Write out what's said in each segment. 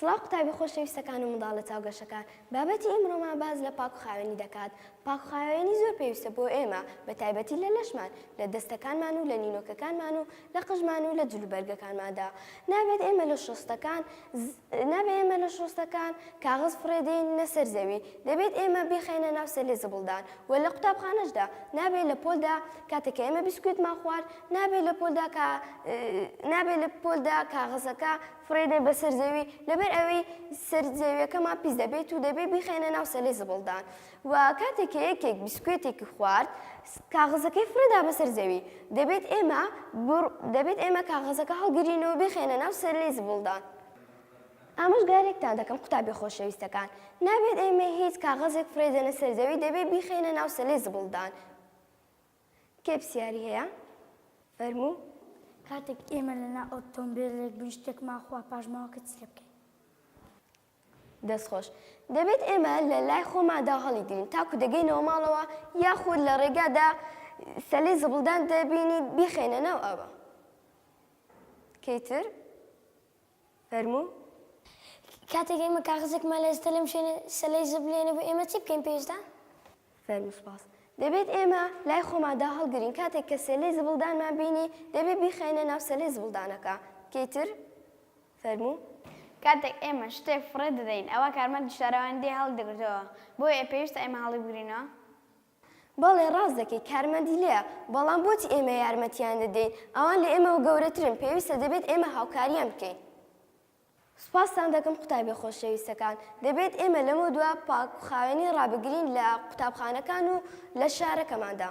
سڵاو قوتابی خۆشەویستەکان و منداڵە چاو گەشەکان، بابەتی ئیمڕۆمان باس لە پاک و خاوێنی دەکات، پاک و خاوێنی زۆر پێویستە بۆ ئێمە بە تایبەتی لە لەشمان، لە دەستەکانمان و لە نینۆکەکانمان و لە قژمان و لە جل و بەرگەکانماندا، نابێت ئێمە لە شۆستەکان نابێت ئێمە لە شۆستەکان کاغەز فڕێ دێنینە سەر زەوی، دەبێت ئێمە بیخەینە ناو سەلێ زبڵدان و لە قوتابخانەشدا نابێت لە پۆلدا کاتێک کە ئێمە بیسکوێتمان خوارد نابێت لە پۆلدا کا نابێت لە پۆلدا کاغەزەکە فڕێدەین بەسەر زەوی لەبەر ئەوەی سەر زەویەکەمان پیس دەبێت و دەبێت بیخەینە ناو سەلەی زبڵدان و کاتێک کە یەکێک بیسکوێتێکی خوارد کاغەزەکەی فڕێدا بەسەر زەوی دەبێت ئێمە دەبێت ئێمە کاغەزەکە هەڵگرین و بیخەینە ناو سەلەی زبڵدان ئامۆژگارێکتان دەکەم قوتابی خۆشەویستەکان نابێت ئێمە هیچ کاغەزێک فرێدەنە سەرزەوی دەبێت بیخەینە ناو سەلەی زبڵدان کێ پسیاری هەیە فەرموو. کاتێک ئێمە لەنا ئۆتۆمبێلێک بین شتێکمان خوا پاش ماوەکە چ لێ بکەین؟ دەستخۆش دەبێت ئێمە لە لای خۆمادا هەڵیگرین تاکو دەگەینەوە ماڵەوە یاخود لە ڕێگادا سەلی زبڵدان دەبینی بیخێنە ناو ئاوە کەیتر فەرموو. کاتێک ئێمە کاغەزێکمان لە جدە لەم شوێنە سەلەی زبلێنە بوو ئێمە چی بکەین پێشدا؟ فەرموو سپاس. دەبێت ئێمە لای خۆماندا هەڵگرین کاتێک کە سەلەی زبڵدانمان بینی دەبێت بیخەینە ناو سەلەی زبڵدانەکە کەی تر؟ فەرموو. کاتێک ئێمە شتێک فڕێ دەدەین ئەوا کارمەندی شارەوانی دێ هەڵی دەگرتەوە بۆیە پێویستە ئێمە هەڵی بگرینەوە؟ بەڵێ ڕاست دەکەیت کارمەندی لێیە، بەڵام بۆچی ئێمە یارمەتییان دەدەین؟ ئەوان لە ئێمەوە گەورەترن، پێویستە دەبێت ئێمە هاوکارییان بکەین. سوپاستان دەکەم قوتابییە خۆشەویستەکان، دەبێت ئێمە لەمەودوا پاکوخاوێنی ڕابگرین لە قوتابخانەکان و لە شارەکەماندا.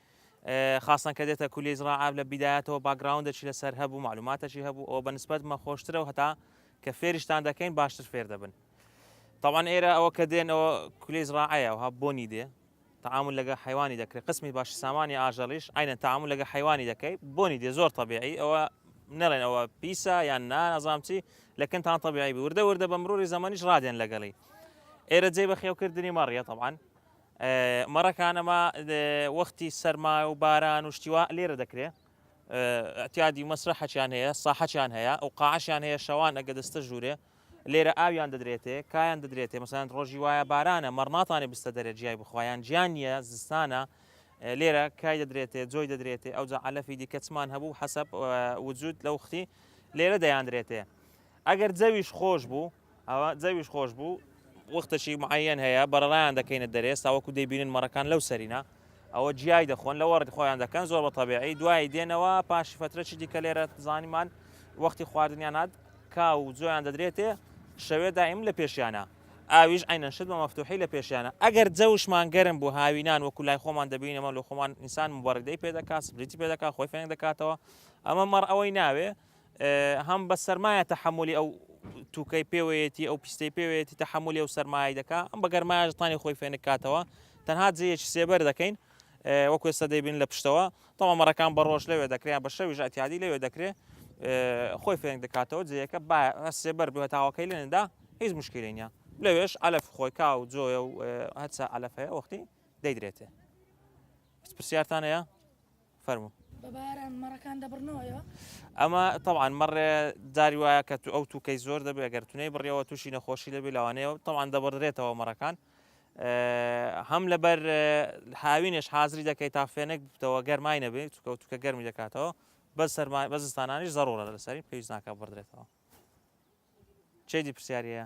خاصەن کە دێتە کولیەی زڕاعە لە بیدایەتەوە باکگراوندێکی لەسەر هەبوو معلوماتێکی هەبوو ئەوە بە نسبەت مە خۆشترە و هەتا کە فێریشتان دەکەین باشتر فێر دەبن طبعا ئێرە ئەوە کە دێنەوە کولی زڕاعەیە وها بۆنی دێ تعامل لەگە حیوانی دەکرێت قسمی باش سامانی ئاژەڵیش ئاینە تعامل لەگە حیوانی دەکەی بۆنی دێ زۆر طبیعی ئەوە نەڵێن ئەوە پیسە یان نا نازام چی لەکنتان طبیعی وردە وردە بە مرۆری زەمەنیش ڕادێن لەگەڵی ئێرە جێ بە خێوکردنی مەڕیە طبعاان مەڕەکان ئەمە وەختی سەرما و باران و شتی وا لێرە دەکرێ ئەتیادی و مەسرەحەچیان هەیە ساحەچیان هەیە ئەو قاعشیان هەیە شەوان ئەگە دەستە ژوورێ لێرە ئاویان دەدرێتێ کایان دەدرێتێ مەسەند ڕۆژی وایە بارانە مەڕناتانی بستە دەرە جیای بخوایان جیان نییە زستانە لێرە کای دەدرێتێ جۆی دەدرێتێ ئەو جەعالەفی دیکەچمان هەبوو حەسەب وجود لە وختی لێرە دەیاندرێتێ ئەگەر جەویش خۆش بوو ئەوا جەویش خۆش بوو. وەختەکی معەیەن هەیە، بەڕەڕایان دەکەینە دەرێس تاوەکو دەیبینن مەڕەکان لەو سەرینە. ئەوە جیای دەخۆن، لەوەڕ خۆیان دەکەن، زۆر بە تەبیعی. دوایی دێنەوە، پاشی فەترەکی دیکە لێرە زانیمان وەختی خواردنیان هات، کاو و جۆیان دەدرێتێ، شەوێ دائیم لە پێشیانە. ئاویش عەینەن شت بە مەفتووحی لە پێشیانە. ئەگەر جەوشمان گەرم بوو، هاوینان وەکو لای خۆمان دەبینین، ئەمە لۆ خۆمان ئینسان موبەڕیدەی پێ دەکا، سپریتی پێ دەکا، خۆی فێنک دەکاتەوە. ئەمە مەڕ ئەوەی ناوێ. هەم بە سەرمایە تەحەمولی ئەو تووکەی پێوەیەتی ئەو پیستەی پێوەیەتی تەحەمولی ئەو سەرمایە دەکا ئەم بە گەرمایش تانی خۆی فێنک کاتەوە تەنها جێیەکی سێبەر دەکەین وەکوێ سە دەیبین لە پشتەوە تەوامەڕەکان بە ڕۆژ لەوێ دەکرێن بە شەویش ئەتیادی لەوێ دەکرێت خۆی فێنک دەکاتەوە جێیەکە با سێبەر بێ تاواکەی لێندا هیچ مشکلی نیە لەوێش ئەلف خۆی کا و جۆە و هەرچە ئەلف هەیە وەختی دەیدرێتێ پرسیارتان هەیە؟ فەرموو. بە باران مەڕەکان دەبڕنەوەیەوە. ئەمە تەوان مەڕێ داری وایە کە تو ئەو توکەی زۆر دەبێ ئەگەر تونەی بڕیەوە تووشی نەخۆشی دەبێ لەوانەیە تەوان دەبڕدرێتەوە مەڕەکان هەم لەبەر هاوینێش حازری دەکەیت تا فێنێک بتەوە گەرمای نەبێت چکە و توکە گەرمی دەکاتەوە بە سەرما بەزستانانیش زەڕۆرە لەسەری پێویست ناکە بڕدرێتەوە چێدی پرسیاریە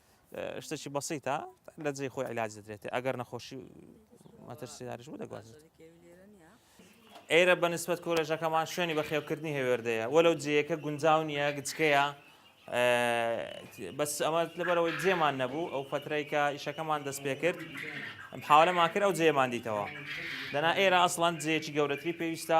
شتێکی بەسیتە لە جێی خۆی علاج دەدرێتێ ئەگەر نەخۆشی مەترسیداریش بوو دەگوازێت ئێرە بە نسبەت کۆلێژەکەمان شوێنی بە خێوکردنی هێوێردەیە وەلو جێیەکە گونجاو نیە گچکەیە بەس ئەمە لەبەرەوەی جێمان نەبوو ئەو فترەی کە ئیشەکەمان دەست پێ کرد حاولەمان کرد ئەو جێمان دیتەوە دەنا ئێرە ئەسڵەن جێکی گەورەتری پێویستە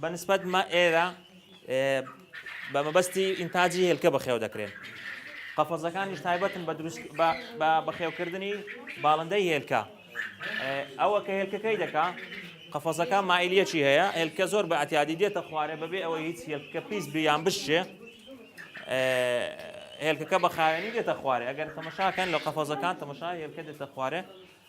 بە نسبەت مە ئێرە بە مەبەستی ئینتاجی هێلکە بەخێو دەکرێن. قەفەزەکانیش تایبەتن بە دروست بە بەخێوکردنی باڵندەی هێلکە. ئەوە کە هێلکەکەی دەکا قەفەزەکە مایلیەکی هەیە هێلکە زۆر بە ئەتیادی دێتە خوارێ بەبێ ئەوەی هیچ هێلکە پیس بیان بشێ هێلکەکە بە خاوێنی دێتە خوارێ ئەگەر تەمەشاکەن لە قەفەزەکان تەمەشا هێلکە دێتە خوارێ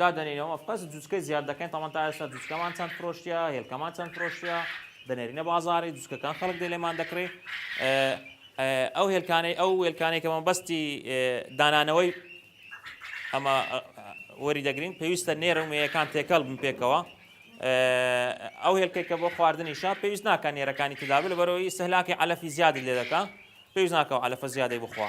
دادەنینەوە پس جوچکەی زیاد دەکەین تاوان تا ئێستا جوچکەمان چەند فرۆشتە هێلکەمان چەند فرۆشتە دەنێرینە بازاری جوچکەکان خەڵک دێ لێمان دەکرێت ئەو هێلکانەی ئەو وێلکانەی کە مەبەستی دانانەوەی ئەمە وەری دەگرین پێویستە نێرە و مێیەکان تێکەڵ بن پێکەوە ئەو هێلکەی کە بۆ خواردنی شا پێویست ناکە نێرەکانی تدابل بەرەوەی سەلاکی علەفی زیادی لێ دەکە پێویست ناکەەوە علەفە زیادەی بخوا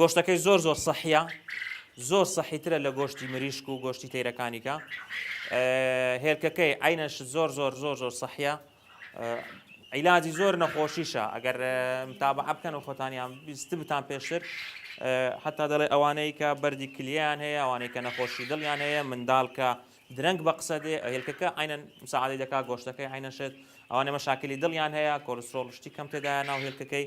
گۆشتەکەی زۆر زۆر سەحە زۆر سەحیترە لە گۆشتی مریشک و گۆشتی تەیرەکانیکە هێلکەکەی عینەش زۆر زۆر زۆر زۆر سەحە عیلاجی زۆر نەخۆشیشە ئەگەر تابە بکەن و خۆتانیان بیست بتان پێشتر حتا دەڵێ ئەوانەی کە بەری کلیان هەیە ئەوانەی کە نەخۆشی دڵیان هەیە منداڵ کە درەنگ بە قسە دێ هێلکەکە ئاینە مساعدی دەکا گۆشتەکەی عینەشێت ئەوانە مەشاکلی دڵیان هەیە کۆلسترۆڵشتی کەم تێدایە ناو هێلکەکەی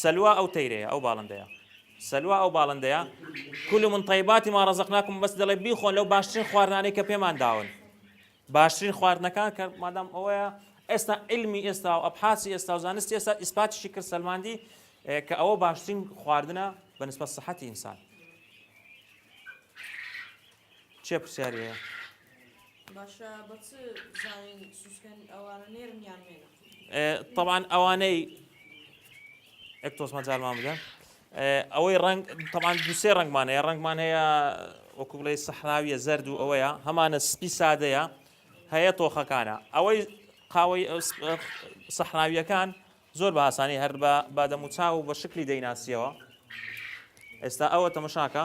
سەلوا ئەو تەیرەیە ئەو باڵندەیە. سەلوا ئەو باڵندەیە. کلوا من طیبات ما رزقناکم بەس دەڵێ بیخۆن لەو باشترین خواردنانەی کە پێمان داون. باشترین خواردنەکان کە مادام ئەوەیە ئێستا علمی ئێستا و ئەبحاسی ئێستا و زانستی ئێستا ئیسپاتیشی کرد سەلماندی کە ئەوە باشترین خواردنە بە نسبەت سەحەتی ئینسان. چیە پرسیاری هەیە؟ باشە بە چ بزانین سوچکەن ئەوانە نێرن یان مێنە؟ طبعا ئەوانەی ئەک تۆز مەجارمان بدەن ئەوەی ڕنگ تەمان دوسێ ڕنگمان هەیە ڕنگمان هەیە وەکو بڵێ سەحراویە زرد و ئەوەیە هەمانە سپی سادەیە هەیە تۆخەکانە ئەوەی قاوەی سەحراویەکان زۆر بە ئاسانی هەر بە بادەموچاو و بە شکلی دەیناسیەوە ئێستا ئەوە تەمەشاکە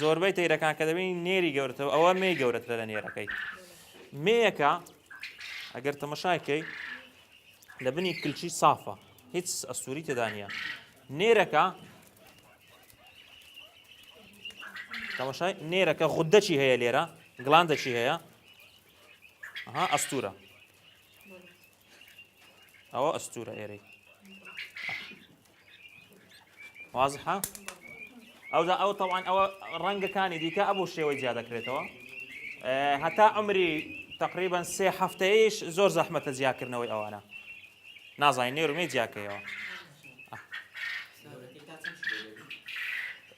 زۆربەی تەیرەکان کە دەبینی نێری گەورەتەوە ئەوە مێی گەورەترە لە نێرەکەی مێیەکە ئەگەر تەمەشاکەی لە بنی کلچی سافە هیچ ئەسووری تێدانە نێرەکە تەمەشای نێرەکە غودەچی هەیە لێرە گڵاندەچی هەیە ها ئەستورە ئەوە ئەستورە ئێرەی وازحە ئەودا ئەو تەوان ئەوە ڕەنگەکانی دیکە ئەبوو شێوەی جیا دەکرێتەوە هەتا ئەمری تقریبان سێ هەفتەیەش زۆر زەحمەتە جیاکردنەوەی ئەوانە نازانین نێرمەی جیاکەیەوە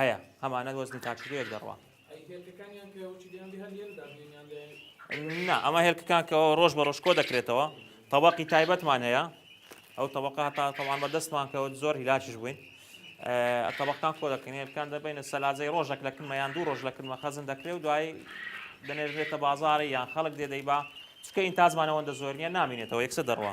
هەیە هەمانە وەزنی تاکشکێوێک دەڕوا. ئەی هێلکەکانیان کە وچی دەیان بێ هەر لێرە دابنێن یان دەیان نا ئەمە هێلکەکان کە ڕۆژ بە ڕۆژ کۆ دەکرێتەوە تەبەقی تایبەتمان هەیە ئەو تەبەقە هەتا تەوان بەردەستمان کەوت زۆر هیلاکیش بووین ئەتەبەقان کۆ دەکەین هێلکان دەبینە سەلاجەی ڕۆژێک لە کلمە یان دوو ڕۆژ لە کلمە خەزن دەکرێت و دوایی دەنێژرێتە بازاری یان خەڵک دێدەی با چکە ئینتازمانەوەندە زۆر نیە نامینێتەوە یەکسە دەڕوە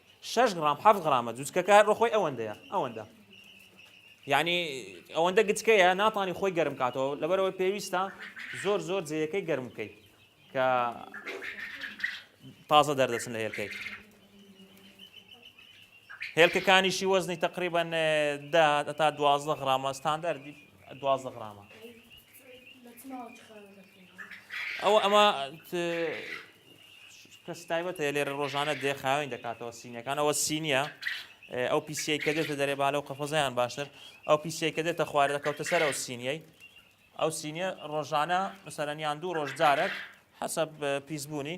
شەش غرام حەفت غرامە جوچکەکە هەر بەخۆی ئەوەندەیە ئەوەندە یعنی ئەوەندە گچکەیە ناتانی خۆی گەرم کاتەوە لەبەرەوەی پێویستە زۆر زۆر جێیەکەی گەرم بکەیت کە تازە دەردەچن لە هێلکەی هێلکەکانیشی وەزنی تقریبان تا دوازدە غرامە ستاندەر دوازدە غرامە ئەوە ئەمە کەس تایبەت هەیە لێرە ڕۆژانە دێ خاوێن دەکاتەوە سینەکان ئەوە سینیە ئەو پیسیەی کە دێتە دەرێ بالە و قەفەزیان باشتر ئەو پیسیەی کە دێتە خوارە دەکەوتە سەر ئەو سینیەی ئەو سینیە ڕۆژانە مسەرەنیان دوو ڕۆژ جارێک حەسە پیسبوونی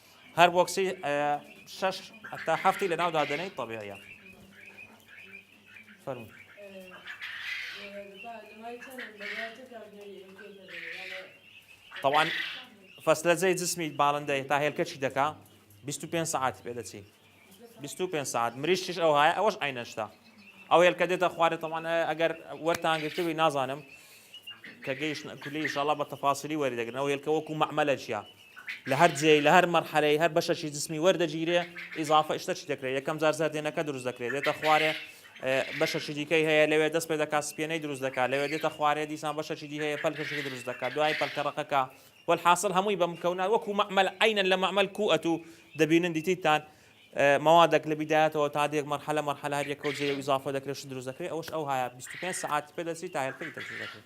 هەر بۆکسی شەش تا هەفتی لە ناودا دەنێیت تەبیعە فەرمو طبعا فەسلەجەی جسمی باڵندەی تا هێلکەچی دەکا 25 سعاتی پێ دەچی بیست و پێنج ساعت مریشتیش ئەو هایە ئەوەش عینە شتە ئەو هێلکە دێتە خوارێ تەمان ئەگەر وەرتان گرتبی نازانم کە گەیشت کولی شڵە بە تەفاسیلی وەری دەگرن ئەو هێلکە وەکو مەعمەلە چیە لە هەر جێ لە هەر مەرحەلەی هەر بەشەشی جسمی وەردەگیرێ ئیزافە شتە چی دەکرێت یەکەم جار زەردێنەکە دروست دەکرێت دێتە خوارێ بەشەشی دیکەی هەیە لەوێ دەست پێ دەکات سپێنەی دروست دەکات لەوێ دێتە خوارێ دیسان بەشەشی دی هەیە پەلکەشی دروست دەکات دوای پەلکەڕەکەکە وەلحاسڵ هەمووی بە مکەونان وەکو مەعمەل عەینەن لە مەعمەل کو ئەتو دەبینن دیتیتان مەوادەک لە بیدایەتەوە تا دێک مەرحەلە مەرحەلە هەر یەکەو جێ و ئیزافە دەکرێ شت دروست دەکرێ ئەوەش ئەو هایە بیست و پێنج سەعاتی پێ دەچی تا هێلکە ئیتر دروست دەکرێ.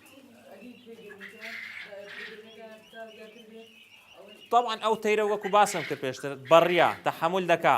تەبعەن ئەو تەیرە وەکو باسم کرد پێشتر بەڕیا تەحەمول دەکا.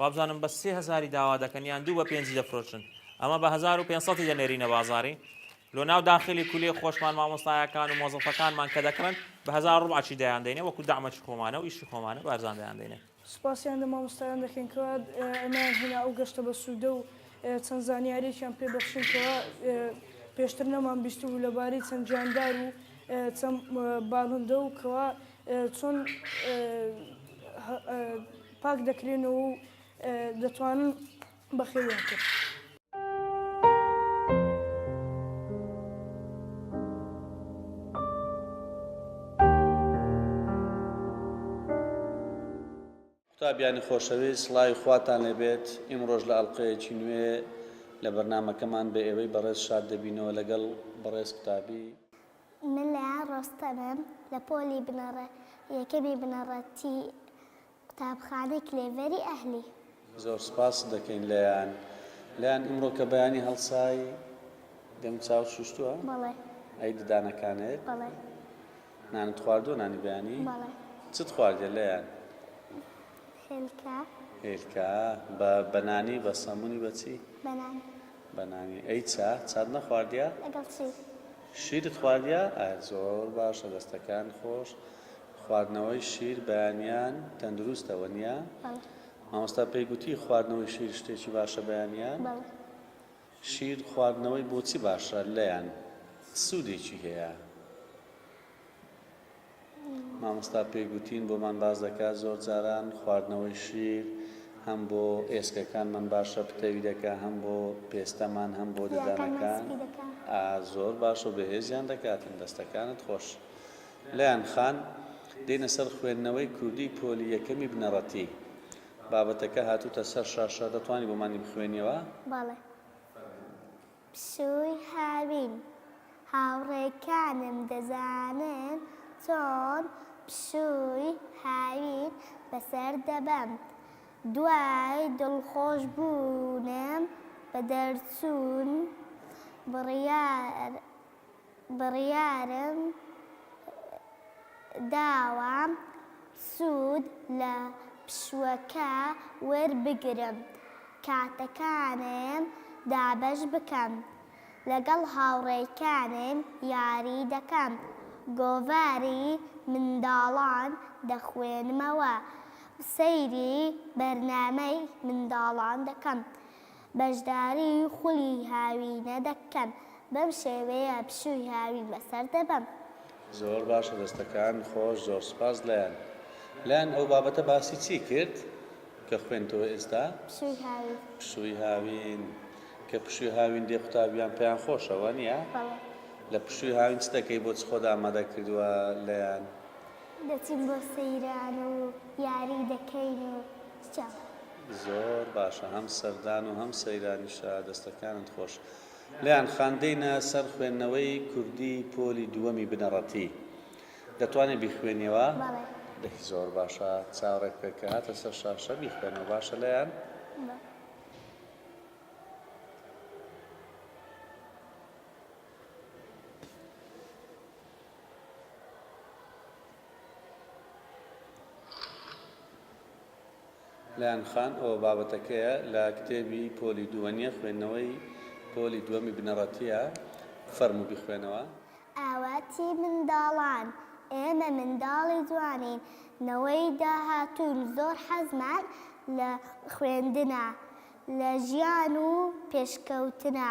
وابزانم بە سێ هەزاری داوا دەکەن یان دوو بە پێنجی دەفرۆشن ئەمە بە هەزار و پێنج سەدی دەنێرینە بازاری لۆ ناو داخلی کولێ خۆشمان مامۆستایەکان و مۆزەفەکانمان کە دەکڕن بە هەزار ڕوبعەکی دەیان دەینێ وەکو دەعمەکی خۆمانە و ئیشی خۆمانە بە ئەرزان دەیان دەینێ. سوپاسیان لە مامۆستایان دەکەین کەوا ئەمەیان هێنا ئەو گەشتە بەسوودە و چەند زانیاریەکیان پێ بەخشین کەوا پێشتر نەمان بیستبوو لەبارەی چەند جاندار و چەند باڵندە و کەوا چۆن پاک دەکرێنەوە و دەتوانن بەخێویان کرد. قوتابیانی خۆشەویست سڵاوی خواتان لێبێت ئیمڕۆژ لە ئەڵلقەیەکی نوێ لە بەرنمەکەمان بە ئێوەی بەڕێز شاد دەبینەوە لەگەڵ بەڕێز قوتابی من لەیان ڕۆستەمم لە پۆلی بنەڕە یەکەمی بنەڕە تی قوتابخانەی کلێڤەری ئەهلی. زۆر سوپاست دەکەین لەیان. لەیان ئیمڕۆ کە بەیانی هەڵسای دەم چاوت شوشتوە؟ بەڵێ. ئەی ددانەکانت؟ بەڵێ. نانت خواردوە نانی بەیانی؟ بەڵێ. چت خواردیە لەیان؟ هێلکە. هێلکە بە بە نانی بە سەمونی بە چی؟ بە نانی. بە نانی ئەی چا چات نەخواردیە؟ لەگەڵ چی؟ شیرت خواردیە؟ ئای زۆر باشە دەستەکان خۆش خواردنەوەی شیر بەیانیان تەندروستە وە نیە؟ بەڵێ. مامۆستا پێی گوتی خواردنەوەی شیر شتێکی باشە بەیانیان؟ بەڵێ. شیر خواردنەوەی بۆچی باشە لەیان؟ سودێکی هەیە؟ مامۆستا پێی گوتین بۆمان باس دەکات زۆر جاران خواردنەوەی شیر هەم بۆ ئێسکەکانمان باشە پتەوی دەکا هەم بۆ پێستەمان هەم بۆ ددانەکان زۆر باش و بەهێزیان دەکاتن دەستەکانت خۆش لەیان خان دێنە سەر خوێندنەوەی کوردی پۆلی یەکەمی بنەڕەتی بابەتەکە هاتوتە سەر شاشە دەتوانانی بۆمانی بخوێنیەوە؟ پشووی هاوین، هاوڕێکانم دەزانن چۆن پشووی هاوین بەسەر دەبەم، دوای دڵخۆشبوونم بە دەرچوون بڕیارم بڕیارم داوە سوود لە پشووەکە وەربگرم، کاتەکانم دابەش بکەم، لەگەڵ هاوڕێکانم یاری دەکەم، گۆڤاری منداڵان دەخوێنمەوە، سەیری بەرنامەی منداڵان دەکەم. بەشداریی خولی هاوینە دەکەن، بەم شێوەیە پشووی هاوین بەسەر دەبەم. زۆر باشە دەستەکان خۆش زۆر سوپاس لەیان لەیان ئەو بابەتە باسی چی کرد کە خوێنتەوە ئێستا؟ پشووی هاوین. پشووی هاوین کە پشووی هاوین دێ قوتابیان پێیان خۆشە وا نیە؟ بەڵێ. لە پشووی هاوین چ دەکەی بۆ چ خۆت ئامادە کردووە لەیان؟ دەچین بۆ سەیران و یاری دەکەین و چ. زۆر باشە هەم سەردان و هەم سەیرانیشە دەستەکانت خۆش. لێیان خان دێینە سەر خوێندنەوەی کوردی پۆلی دووەمی بنەڕەتی دەتوانی بیخوێنیەوە؟ بەڵێ. دەی زۆر باشە چاوڕێ بکە کە هاتە سەر شاشە بیخوێنەوە باشە لێیان. بە. لایەن خان، ئەوە بابەتەکەیە لە کتێبی پۆلی دووە نیە خوێندنەوەی پۆلی دووەمی بنەڕەتیە فەرموو بیخوێنەوە. ئاواتی منداڵان، ئێمە منداڵی جوانین نەوەی داهاتوون زۆر حەزمان لە خوێندنە لە ژیان و پێشکەوتنە،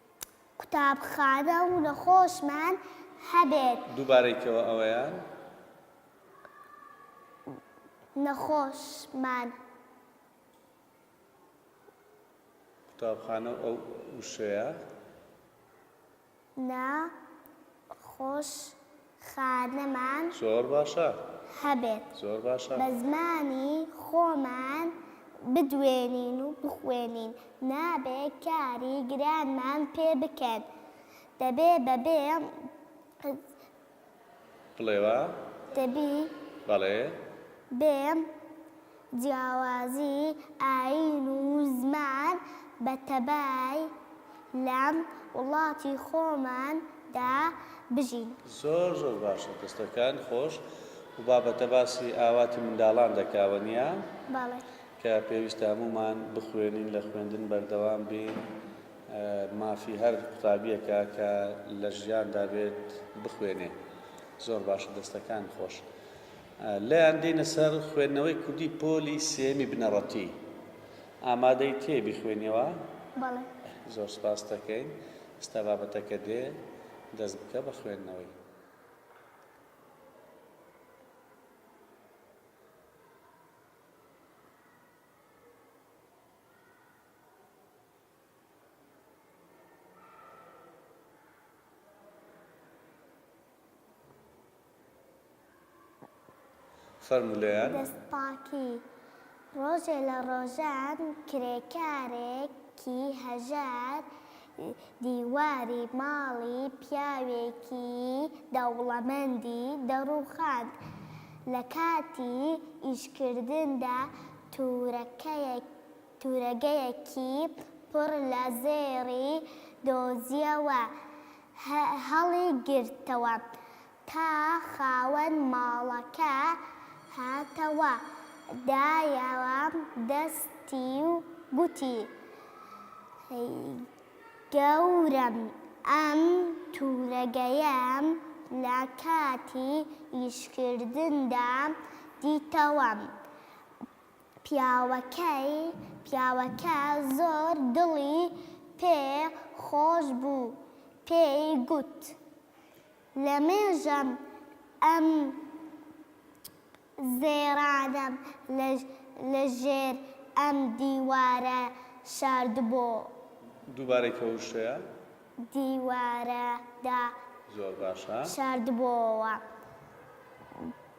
قوتابخانە و نەخۆشمان هەبێت. دووبارەی کەوە ئەوەیان. نەخۆشمان. قوتابخانە و ئەو وشەیە. نە خۆش خانمان زۆر باشە هەبێت زۆر باشە. بە زمانی خۆمان بدوێنین و بخوێنین نابێ کاری گرانمان پێ بکەن دەبێ بەبێ. بڵێوا دەبی بەڵێ. بێ جیاوازی ئایین و زمان بە تەبای لەم وڵاتی خۆمان دا بژین. زۆر زۆر باشە دەستەکان خۆش. و بابەتە باسی ئاواتی منداڵان دەکاوە نیە؟ بەڵێ. کە پێویستە هەموومان بخوێنین لە خوێندن بەردەوام بین مافی هەر قوتابیەکە کە لە ژیاندا بێت بخوێنێ زۆر باشە دەستەکان خۆش. لێیان دێینە سەر خوێندنەوەی کوردی پۆلی سێیەمی بنەڕەتی. ئامادەی تێ بیخوێنیەوە؟ بەڵێ. زۆر سپاست دەکەین. ئێستا بابەتەکە دێ، دەست بکە بە خوێندنەوەی. دەست پاکی، ڕۆژێ لە ڕۆژان کرێکارێکی هەژار دیواری ماڵی پیاوێکی دەوڵەمەندی دەڕووخاند، لە کاتی ئیشکردندا تورەکەیەکی. تورەگەیەکی پڕ لە زێڕی دۆزییەوە، هەڵیگرتەوە، تا خاوەن ماڵەکە هاتەوە، دایەوە دەستی و گوتی، گەورەم ئەم تورەگەیەم لە کاتی ئیشکردندا دیتەوە، پیاوەکەی پیاوەکە زۆر دڵی پێ خۆش بوو پێی گوت لەمێژەم ئەم زێڕانەم لە ژێر ئەم دیوارە شاردبۆ. دووبارەی کە وشەیە. دیوارەدا. زۆر باشە. شاردبۆوە.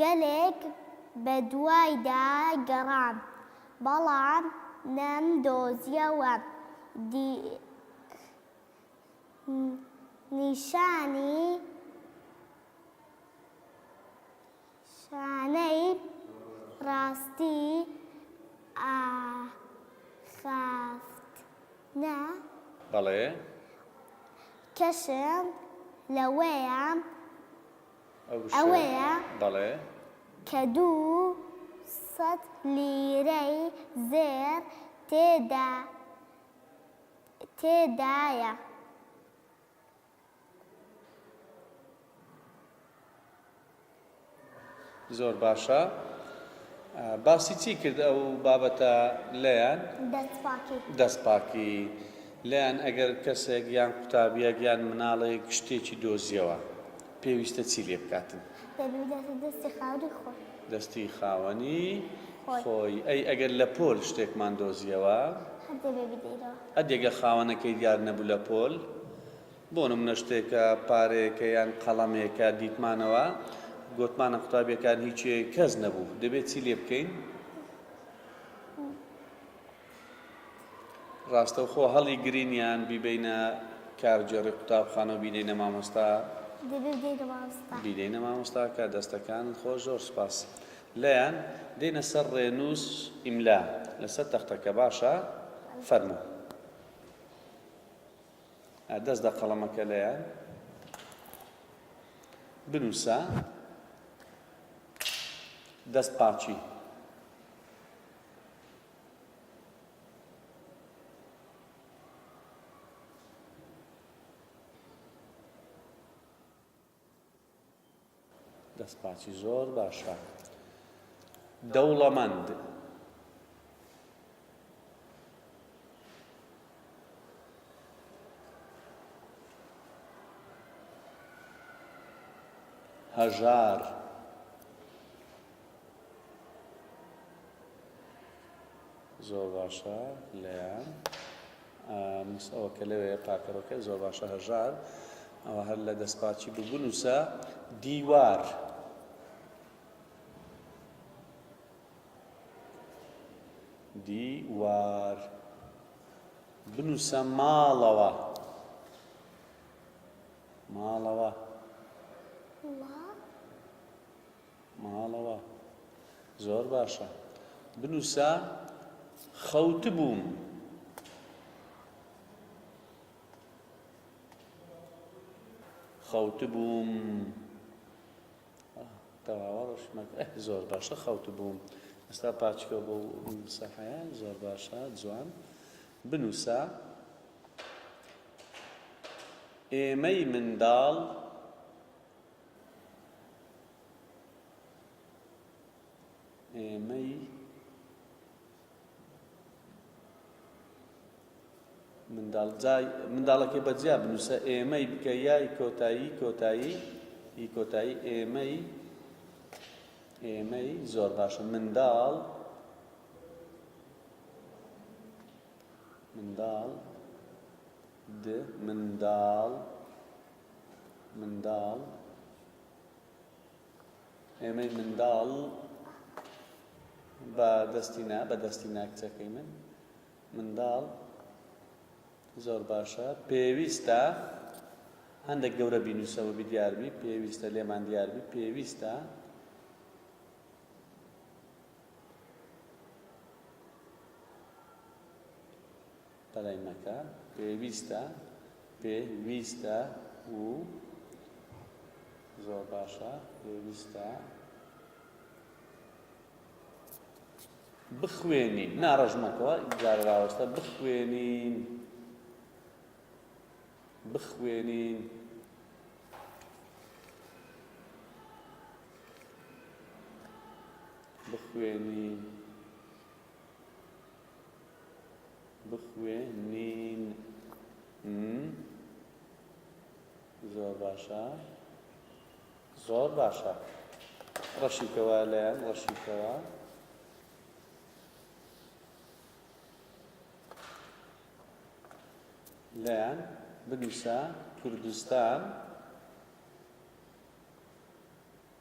گەلێک بەدوایدا گەڕام، بەڵام نەمدۆزییەوە. دی نیشانی شانەی ڕاستی ئاخافتنە. بەڵێ. کەشم لەوەیە ئەوەیە کە دوو سەد لیرەی زێڕ تێدایە. زۆر باشە باسی چی کرد ئەو بابەتە لەیان؟ دەست پاکی. لێیان ئەگەر کەسێک یان قوتابیەک یان مناڵێک شتێکی دۆزیەوە پێویستە چی لێ بکاتن؟ دەبی بداتە دەستی خاوەنی خۆی. دەستی خاوەنی خۆی. ئەی ئەگەر لە پۆل شتێکمان دۆزیەوە؟ هەر دەبێ بدەینەوە. ئە دەگە خاوەنەکەی دیار نەبوو لە پۆل بۆ نمونە شتێکە پارەیەکە یان قەڵەمێکە دیتمانەوە گۆتمانە قوتابیەکان هیچی کەس نەبوو دەبێ چی لێ بکەین؟ ڕاستەوخۆ هەڵیگرین یان بیبەینە کارگێڕی قوتابخانە و بینەینە مامۆستا؟ دەبێت بدەینە مامۆستا. بینەینە مامۆستاکە. دەستەکانت خۆش زۆر سوپاس. لەیان، دێینە سەر ڕێنووس ئیملا لەسەر تەختەکە باشە؟ فەرموو. ئا دەست دە قەڵەمەکە لەیان. بنووسە. دەست پاچی. دەستپاچی زۆر باشە دەوڵەمەند هەژار زۆر باشە لەیان نووس ئەوە کە لەوێ پاکەرۆکە زۆر باشە هەژار ئەوە هەر لە دەستپاچی ببنووسە دیوار دیوار بنووسە ماڵەوە ماڵەوە ماڵەوە زۆر باشە بنووسە خەوتبووم. خەوتبووم تەواوە ڕۆشمەک زۆر باشە خەوتبووم ئێستا پاچکە بۆ سەحەیە زۆر باشە جوان بنووسە ئێمەی منداڵ ئێمەی منداڵ جای منداڵەکەی بەجیا بنووسە ئێمەی بکە یای کۆتایی کۆتایی ئی کۆتایی ئێمەی ئێمەی زۆر باشە منداڵ منداڵ د منداڵ منداڵ ئێمەی منداڵ بە دەستی نا بە دەستی ناکچەکەی من منداڵ زۆر باشە پێویستە هەندێک گەورە بینوسەوە بیدیاربی پێویستە لێمان دیاربی پێویستە بەلای مەکە پێویستە پێ ویستە و زۆر باشە پێویستە بخوێنین نا ڕەژمەکەوە جارە راوەستە بخوێنین بخوێنین بخوێنین بخوێنین م زۆر باشە زۆر باشە ڕەشیکەوە لەیان ڕەشیکەوە لەیان بنووسە کوردستان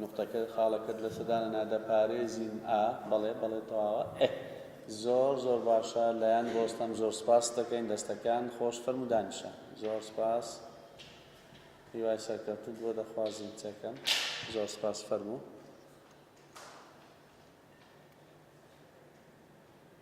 نوقتەکە خاڵەکەت لەسە دانەنا دەپارێزین ئا بەڵێ بەڵێ تەواوە ئه زۆر زۆر باشە لەیان بۆستەم زۆر سپاست دەکەین دەستەکان خۆش فەرموو دانیشە زۆر سپاس هیوای سەرکەوتن بۆ دەخوازین چەکەم زۆر سپاس فەرموو